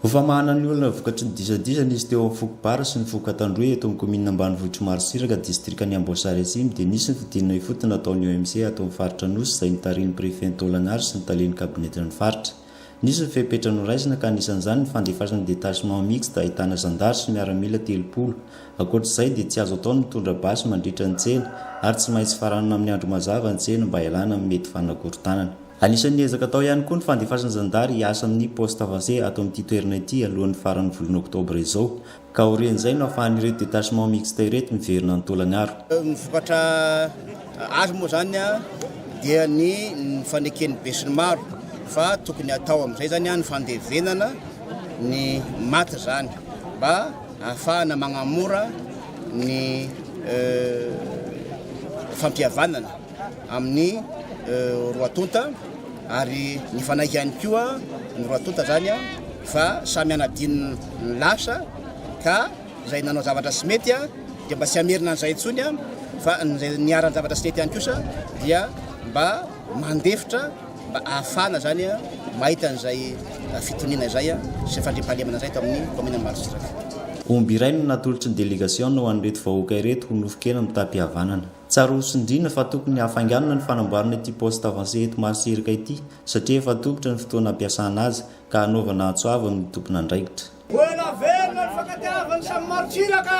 Ho famahana ny olana vokatry ny disadisa nisy teo amin'ny foko Bara sy ny foko Katandroy eto amin'ny kaominina ambanivohitr'i Marosiraka, distrikan'i Amboasary Atsimo dia nisy ny fidinana ifotony nataon'ny OMC ato amin'ny faritra Anosy izay notarihin'ny prefet Taolana Aro sy ny talen'ny kabinetin'ny faritra. Nisy ny fepetra noraisina ka anisan'izany ny fandefasana ny detachement mixte ahitana zandary sy miaramila telopolo. Ankoatra izay dia tsy azo atao ny mitondra basy mandritra ny tsena ary tsy maintsy faranana amin'ny andro mazava ny tsena mba hialana amin'ny mety fanakorontanana. Anisan'ny ezaka atao ihany koa ny fandefasan'ny zandary hiasa amin'ny poste avancé ato amin'ity toerana ity alohan'ny faran'ny volana oktobra izao, ka aorian'izay no ahafahan'ireto détachement mixte ireto miverina any Tolagnaro. Ny vokatra azo moa izany dia ny faneken'ny besinimaro fa tokony hatao amin'izay izany ny fandevenana ny maty izany mba ahafahana magnamora ny fampihavanana. amin'ny roa tonta ary nifanaiky ihany koa ny roa tonta zany fa samy anadino ny lasa ka izay nanao zavatra sy mety dia mba tsy hamerina an'izay intsony fa nizay niharan'ny zavatra sy mety ihany kosa dia mba mandefitra mba ahafana zany mahita an'izay fitoniana izay sy fandrimpahalemana izay to amin'ny kominan'ny Marotsidraka. Omby iray no natolotry ny delegasiona ho an'ireto vahoaka ireto ho nofon-kena mitam-pihavanana. Tsara ho tsindriana fa tokony hafainganina ny fanamboarana ity poste avancé eto Marotsiraka ity satria efa tobitra ny fotoana hampiasana azy ka hanaovana antso avo amin'ny tompon'andraikitra. Ho ela velona ny fankatiavan'ny samy Marotsiraka!